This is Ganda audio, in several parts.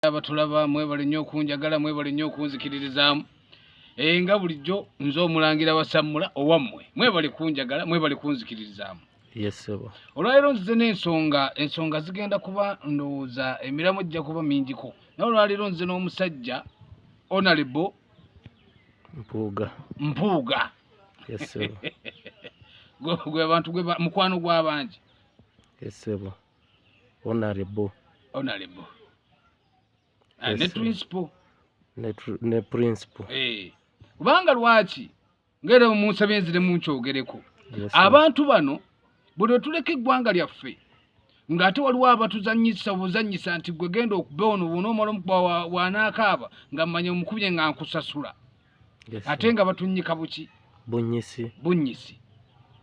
abatulaba mwebale nnyo okunjagala mwebale nnyo okunzikiririzaamu eh, nga bulijjo nze omulangira wasammula owammwe mwebale kunjagala mwebale kunzikiririzaamu olwaleero nzize n'ensonga ensonga zigenda kuba ndowooza emiramu ejja kuba mingiko naye olwaleero nzize n'omusajja onalebo mpuuga mpuuga gwe bantu gwe mukwano gw'abangi Honorable. Honorable. Ah, yes, ne principal. Ne, ne principal. Eh. Hey. Kubanga lwaki ngere omunsa benzire munchogereko. Yes, abantu bano bwe tuleke gwanga lyaffe ng'ate waliwo abatuzanyisa obuzanyisa nti gwe genda okuba ono bwona omala omukwa wanaakaaba nga mmanya omukubye nga nkusasula ate nga batunnyika buki bunnyisi bunnyisi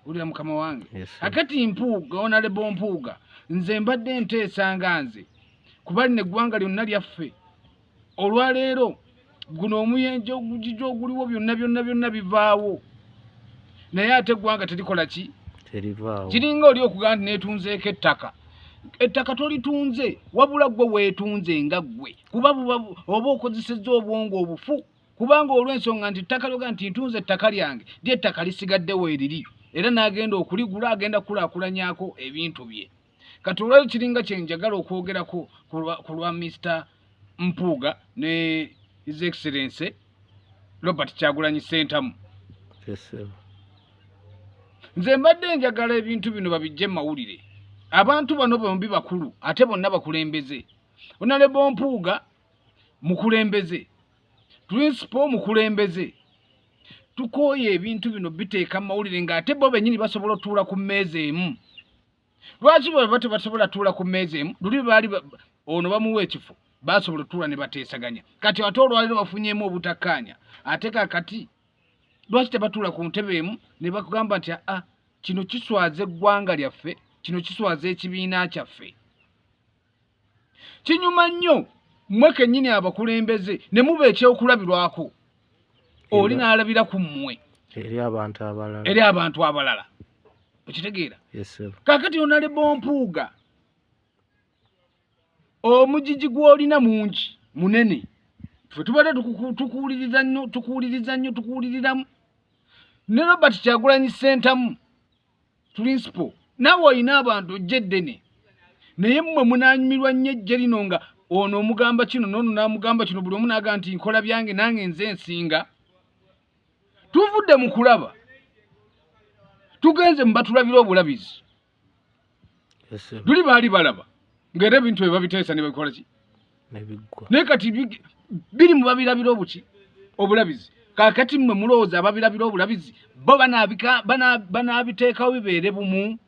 ulira mukama wange akati mpuuga onalebo mpuuga nze mbadde nteesa nga nze kuba lino eggwanga lyonna lyaffe olwaleero guno omuyenje ogugija oguliwo byonna byonna byonna bivaawo naye ate eggwanga terikola ki kiringa oli okugamba nti netunzeeko ettaka ettaka tolitunze wabula gwe wetunze nga gwe kuba oba okozesezza obwongo obufu kubanga olw'ensonga nti ttaka lyoga nti ntunze ettaka lyange lyettaka lisigadde weeriri era n'agenda okuligula agenda kukulaakulanyako ebintu bye kati olwayo kiringa kye njagala okwogerako ku lwa mister mpuuga ne his excellency robert kyagulanyi sentamu nze mbadde njagala ebintu bino babijje mawulire abantu bano bombi bakulu ate bonna bakulembeze onalebo mpuuga mukulembeze principal mukulembeze tukooye ebintu bino biteeka mu mawulire ng'ate bo bennyini basobola otuula ku mmeeza emu lwaki bweba tebasobola tuula ku mmeeza emu luli baali ono bamuwa ekifo basobola otuula ne bateesaganya kati ate olwaliro bafunyeemu obutakkaanya ate kakati lwaki tebatuula ku ntebe emu ne bakugamba nti aa ah, kino kiswaza eggwanga lyaffe kino kiswaza ekibiina kyaffe kinyuma nnyo mmwe kennyini abakulembeze ne muba ekyokulabirwako oli n'alabira ku mmwe eri abantu abalala eri abantu abalala okitegeera kaakati onale bompuuga omujiji gw'olina mungi munene fe tubadde tukuwuliriza nnyo tukuwuliriza nnyo tukuwuliriramu ne robert kyagulanyi ssentamu principal nawe olina abantu ojja eddene naye mmwe munanyumirwa nnyo ejje lino nga ono omugamba kino noono namugamba kino buli omu naga nti nkola byange nange nze ensinga tuvudde mu kulaba tugenze mubatulabira obulabizi luli baali balaba ngaera ebintu bye babiteesa ne babikolaki naye kati biri mu babirabira obuki obulabizi kakati mmwe mulowooza ababirabira obulabizi bo banaabiteekawo bibeere bumu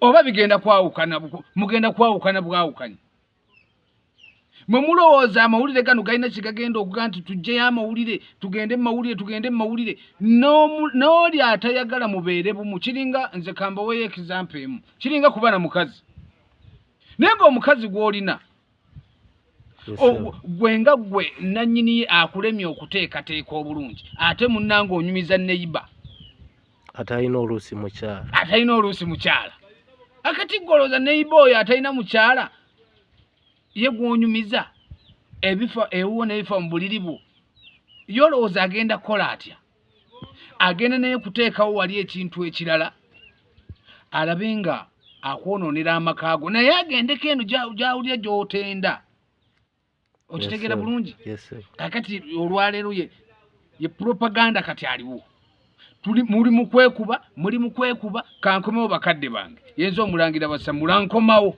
oba bigenda kwawukana mugenda kwawukana bwawukanye mwe mulowooza amawulire gano galina kyegagenda okuga nti tujjeyo amawulire tugende mumawulire tugende mumawulire n'oli atayagala mubeere bumu kiringa nze kambaweyo ekizampa emu kiringa kuba na mukazi naye nga omukazi gwolina gwe nga gwe nanyini akulemye okuteekateeka obulungi ate munanga onyumiza neiba atalina oluusi mukyala atalina oluusi mukyala akati gwolooza neiba oyo atalina mukyala ye gwonyumiza ebifa ewuwo nebifa mu buliri bwo yolowooza agenda kukola atya agenda naye kuteekawo wali ekintu ekirala alabe nga akwonoonera amaka go naye agendeko eno gyawulira gyotenda okitegeera bulungi kakati olwaleero ye ye propaganda kati aliwo tuli muli mu kwekuba muli mu kwekuba kankomewo bakadde bange yenza omulangira basa mulankomawo